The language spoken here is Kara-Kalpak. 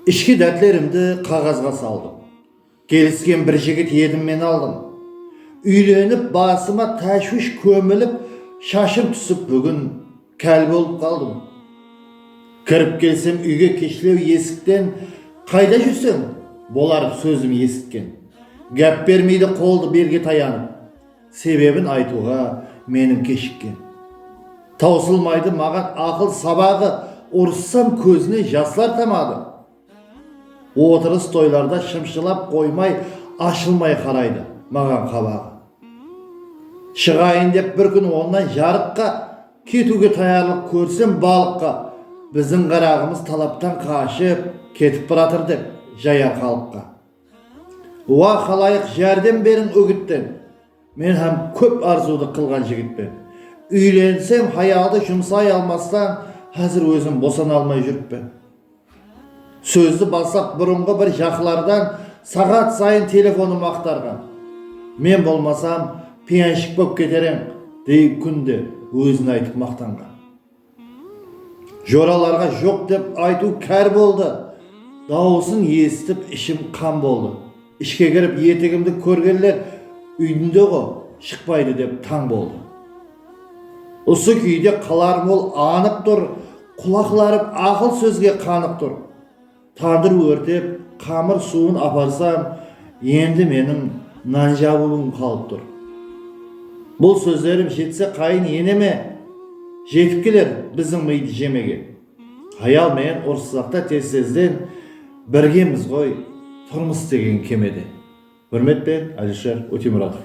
Ishki dártlerimdi qaǵazǵa saldım. Kelisken bir jigit edim men aldım. Úylenip basıma táshwish kómilip shashım túsip búgin kel bolıp qaldım. Kirip kelsem úyge keshlew esikten qayda júrseń? Bolar sózim esitken. Gáp bermeydi qoldı belge tayanıp. Sebebin aytıwǵa menim keshikken. Tawsılmaydı maǵan aqıl sabaǵı Urıssam kózinen jaslar tamadı. Otırıs toylarda shımshılap qoymay ashılmay qaraydı maǵan qabaǵı. Shıǵayın dep bir kún onnan jarıqqa ketiwge tayarlıq kórsem balıqqa biziń qaraǵımız talaptan qashıp ketip baratır dep jayar xalıqqa. Uá, xalayıq, járdem beriń úgittin! Men hám kóp arzıwdı qılǵan jigitpen. Úylensem, hayaldı jumsay almastan, házir ózim bosana almay júrippen. Sózdi baslap burınǵı bir jaqlardan saǵat sayın telefonım aqtarǵan. Men bolmasam, piyanshik bop keterenq, dey kúnde ózine aytıp maqtanǵan. Joralarǵa joq dep aytıw kár boldı. Dawısın esitip ishim qan boldı. Ishke kirip etigimdi kórgenler úydinde-ǵo, shıqpaydı dep tań boldı. Usı kúyde qalarım ol anıq tur, qulaqlarım aqıl sózge qanıq tur. Tandır órtep, qamır suwın aparsam, endi meniń nan jabıwım qalıp tur. Bul sózlerim jetse qayın eneme jetip keler biziń mıydı jemege. Hayal menen urıssaqta tez-tezden birgemiz ǵoy, turmıs degen kemede. Húrmetpen, Alysher Ótemuratov.